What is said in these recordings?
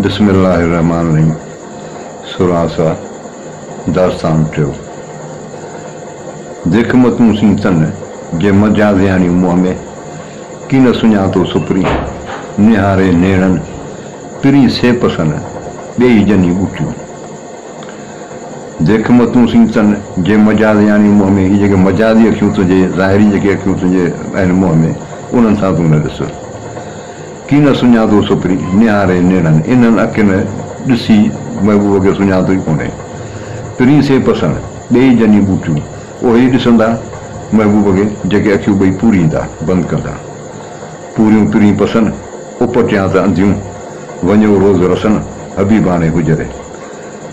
بسم الله الرحمٰن الرحيم سورهان سا داستان ٽيون ديک متون سين تن جي منجهان زهڻي منهن ۾، ڪي نه سڃاتو سپري نهاري نيڻن، پرين سي پسن ٻيئي جني ٻوٽيون. ديک متون سين تن جي منجهان زهڻي منهن ۾، هي جيڪي مجازي اکيون تنهنجي ظاهري جيڪي اکيون تنهنجي آهن منهن ۾ انهن سان تون نه ڏس. ڪين سڃاتو سپري نهاري نيڻن. انهن اکين ڏسي محبوب کي سڃاتو ئي ڪونهي. پرين سين پسڻ ڏيئي جني ٻوٽيون. اهي ئي ڏسندا محبوب کي جيڪي اکيون ٻئي پوريندا، بند ڪندا. پوريون پرين پسن، اپٽيان ته انڌيون. وڃيو روز رسن، حبيباڻي حجري.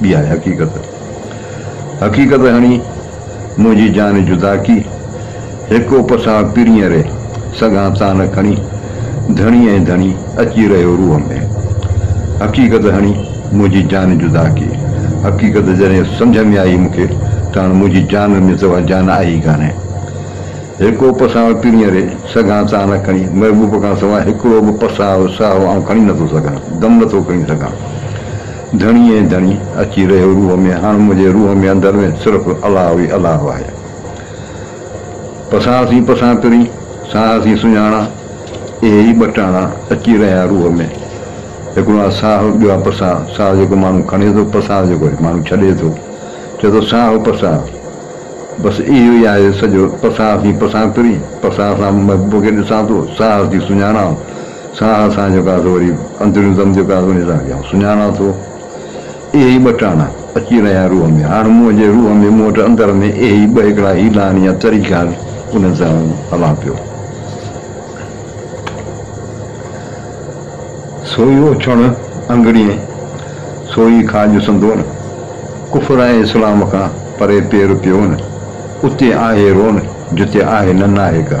ٻي آهي حقيقت. حقيقت هڻي منهنجي جان جدا ڪي. هڪ اپ سان پرينء ري سگهان تان کڻي ڌڻي ۽ ڌڻي اچي رهيو روح ۾. حقيقت هڻي منهنجي جان جدا ڪي. حقيقت جڏهن سمجهه ۾ آئي مون کي ته هاڻ منهنجي جان ۾ سوا جان آهي ئي ڪانهي. هڪ اپ سان پرينء ري سگهان تان کڻي محبوب کان سوا هڪڙو به پساهه ساهه آئون کڻي نٿو سگهان، دم نٿو کڻي سگهان. ڌڻي اي ڌڻي اچي رهيو روح ۾ هاڻ منهنجي روح ۾ اندر ۾ صرف الله ئي الله آهي پسان سين پسان پرين ساهه سين سڃاڻا اهي ئي ٻه ٽاڻا اچي رهيا روح ۾ هڪڙو آ ساهه ٻيو آ پسان ساهه جيڪو ماڻهو کڻي ٿو پسان جيڪو ماڻهو ڇڏي ٿو چئي ٿو ساهه پسان بس اهو ئي آهي سڄو پسان سين پسان پرين پسان سان مون کي ڏسان ٿو ساهه سين سڃاڻا سان اسان جو ڪا ٿو وري اندريون دم جو ڪا ٿو نثار ڪيان ٿو سڃاڻان ٿو اهي ئي ٻه ٽاڻا اچي رهيا روح ۾ هاڻ منهن جي روح ۾ مون وٽ اندر ۾ اهي ئي ٻه هڪڙا هيلان يا طريقا آهن انهن سان آئون هلان پيو سوئي اوڇڻ انگڙين سوئي کاڄ سندون ڪفر ۽ اسلام کان پري پير پيون اتي آهي رون جتي آهي نه ناهي ڪا.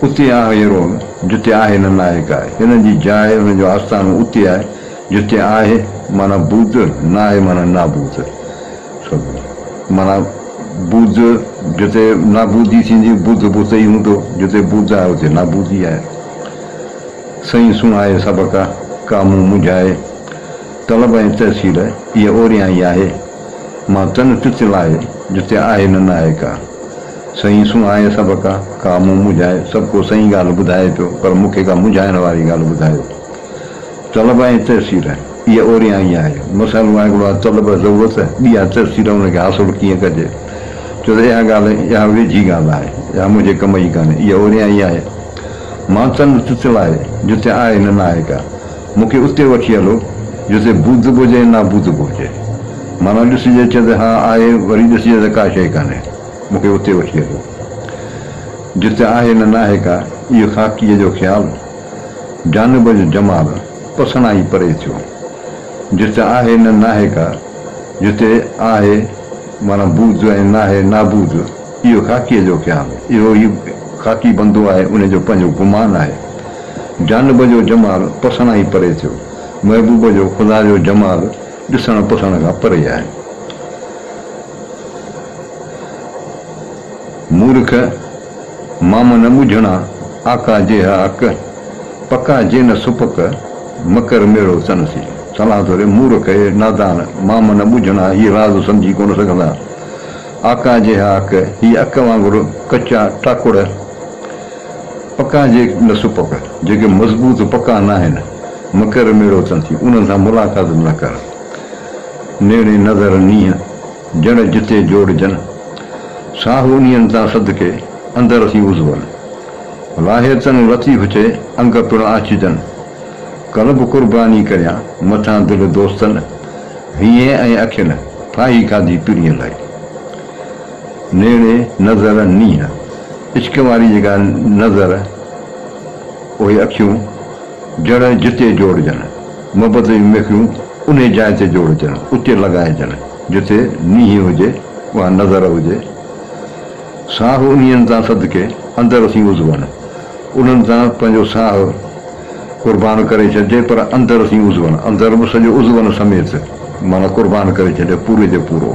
اتي آء ئي رهون، جتي آهي نه نائڪ آء. هنن جي جاء، هنن جو آستانو اتي آهي، جتي آهي معنيٰ بوڌ، ناهي معنيٰ نابوڌ. معنيٰ بوڌ جتي نابوڌي ٿيندي، بوڌ به اتي ئي هوندو، جتي بوڌ آهي، اتي نابوڌي آهي. سئي سڻائي سبق، ڪا مون منجهائي. طلب ۽ تحصيل، اهي اوريان ئي آهي. مان تن تت لاهي، جتي آهي نه نائڪ آء. سائين سون آهي سڀ ڪا ڪا مون مونجهائي سڀ ڪو سائين ڳالهه ٻڌائي پيو پر مونکي ڪا مونجهائڻ واري ڳالهه ٻڌايو طلب ۽ تيسير اهي اوريان ئي آهي مسئلو آهي هڪڙو آهي طلب ضرورت ٻي آهي تيسير ان کي حاصل ڪيئن ڪجي چوس اها ڳالهه اها ويجهي ڳالهه آهي اها مونجهي ڪم جي ڪانهي اهي اوريان ئي آهي مان تن تتل آهي جتي آهي نه ناهي ڪا مونکي اتي وٺي هلو جتي ٻڌبو هجي نا ٻڌبو هجي معنيٰ ڏسجي چي ته ها آهي وري ڏسجي ته ڪا شيء ڪانهي. مون کي اتي وٺي هلو جتي آهي نه ناهي ڪا اهي خاڪيء جو خيال جانب جو جمال پسڻان ئي پري ٿيو جتي آهي نه ناهي ڪا جتي آهي معنيٰ بود ۽ ناهي نابود اهو خاڪيء جو خيال اهو ئي خاڪي بندو آهي ان جو پنهنجو گمان آهي جانب جو جمال پسڻان ئي پري ٿيو محبوب جو خدا جو جمال ڏسڻ پسڻ کان پري آهي. مورک مام نه ٻجهڻا، آقا جيها اڪ، پڪا جي نه سپڪ، مڪر ميڙو تن سي. صلاح ٿو ڏي، مورک اهي نادان، مام نه ٻجهڻا، هي راز سمجهي ڪونه سگهندا. آقا جيها اڪ، هي اڪ وانگر ڪچا ٽاڪڙ، پڪا جي نه سپڪ، جيڪي مضبوط پڪا ناهن، مڪر ميڙو تن سي، انهن سان ملاقات به نه ڪر. نيڻي نظر نينهن جڻ جتي جوڙجن، ساهو انهين تان صدقي اندر ٿي عضون، لاهي تن لطيف چي انگ پڻ آچجن، قلب قرباني ڪريان مٿان دل دوستن، هينئين ۽ اکين ڦاهي کاڌي پرينء لاء. نيڻي نظر نينهن عشق واري جيڪا نظر اهي اکيون جڻ جتي جوڙجن. محبت جون ميخيون انهي جاء تي جوڙجن، اتي لڳائجن، جتي نيهي هجي، اها نظر هجي. ساهه انهين تان صدقي، اندر اٿيون عضون، انهن تان پنهنجو ساهه قربان ڪري ڇڏجي، پر اندر اٿيون عضون، اندر به سڄو عضون سميت، معنيٰ قربان ڪري ڇڏجي، پوري جو پورو.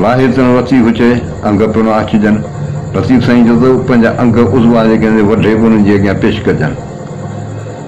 لاهي تن لطيف چئي، انگ پڻ آڇجن. لطيف سائين چيو ته، پنهنجا انگ عضوا جيڪي آهن، سي وڍي به انهن جي اڳيان پيش ڪجن.